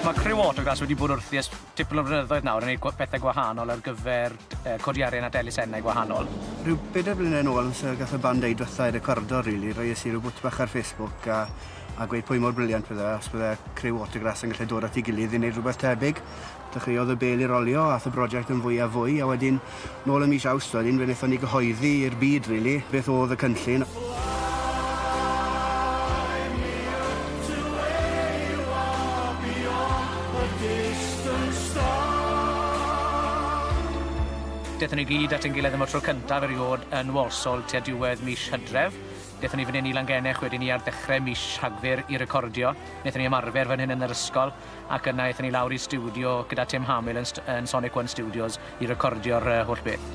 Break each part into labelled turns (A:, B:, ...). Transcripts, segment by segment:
A: Mae criw Autogas wedi bod wrthi ers tipyn o flynyddoedd nawr yn gwneud gw- pethau gwahanol ar gyfer yy codi arian at elusennau gwahanol. Rhyw bedair blynedd yn ôl, so gath y band eu dwetha i recordo rili, roies i rhyw bwt bach ar Facebook a a gweud pwy mor briliant bydde os bydde criw Autograss yn gallu dod at ei gilydd i wneud rhywbeth tebyg. Dechreuodd y bêl i rolio, ath y broject yn fwy a fwy, a wedyn, nôl ym mis Awst wedyn, fe wnaethon ni gyhoeddi i'r byd, rili, beth oedd y cynllun. Fly me up to where you are beyond the distant stars. Dethon ni gyd at ein gilydd am y tro cyntaf eriôd yn Walsall tua diwedd mis Hydref. Dethon ni fan hyn i Langennech wedyn ni ar ddechrau mis Rhagfyr i recordio. Wnaethon ni ymarfer fan hyn yn yr ysgol. ac yna aethon ni lawr i stiwdio gyda Tim Hamill yn, yn Sonic One Studios i recordio'r uh, holl beth.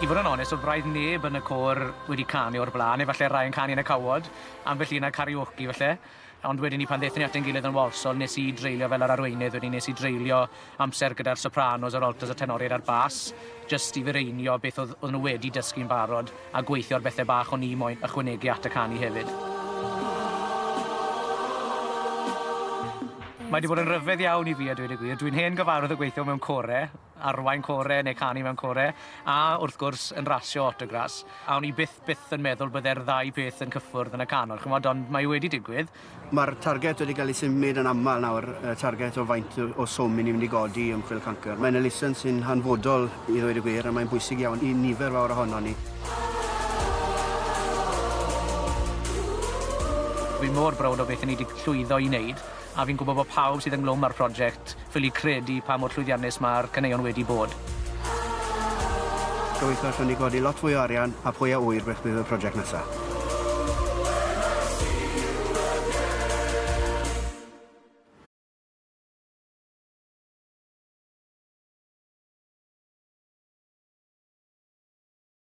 A: I fod yn onest, o braidd neb yn y côr wedi canu o'r blaen, efallai rai yn canu yn y cawod, ambell un ar karaoke falle. Ond wedyn ni pan ddethon ni at ein gilydd yn Walsall, nes i dreulio fel yr arweinydd, wedyn nes i dreulio amser gyda'r sopranos, yr altos, y tenoriaid a'r bas, jyst i fireinio beth oedd oedden nhw wedi dysgu'n barod a gweithio ar bethau bach o'n i moyn ychwanegu at y canu hefyd. Mae wedi bod yn rhyfedd iawn i fi a dweud y gwir. Dwi'n hen gyfarwydd o gweithio mewn core, arwain core neu canu mewn core, a wrth gwrs yn rasio autograss. A o'n i byth, byth yn meddwl bydde'r ddau peth yn cyffwrdd yn y canol, ch'mod, ond mae wedi digwydd. Mae'r targed wedi cael ei symud yn aml nawr, y targed o faint o swm i ni'n mynd i godi i ymchwil cancr. Mae'n elusen sy'n hanfodol i ddweud y gwir a mae'n bwysig iawn i nifer fawr ohonon ni. Fi mor browd o beth 'yn ni 'di llwyddo i wneud a fi'n gwybod bod pawb sydd ynghlwm â'r prosiect ffili credu pa mor llwyddiannus mae'r caneuon wedi bod. Gobeithio allwn ni godi lot fwy o arian a phwy a ŵyr beth bydd y project nesa.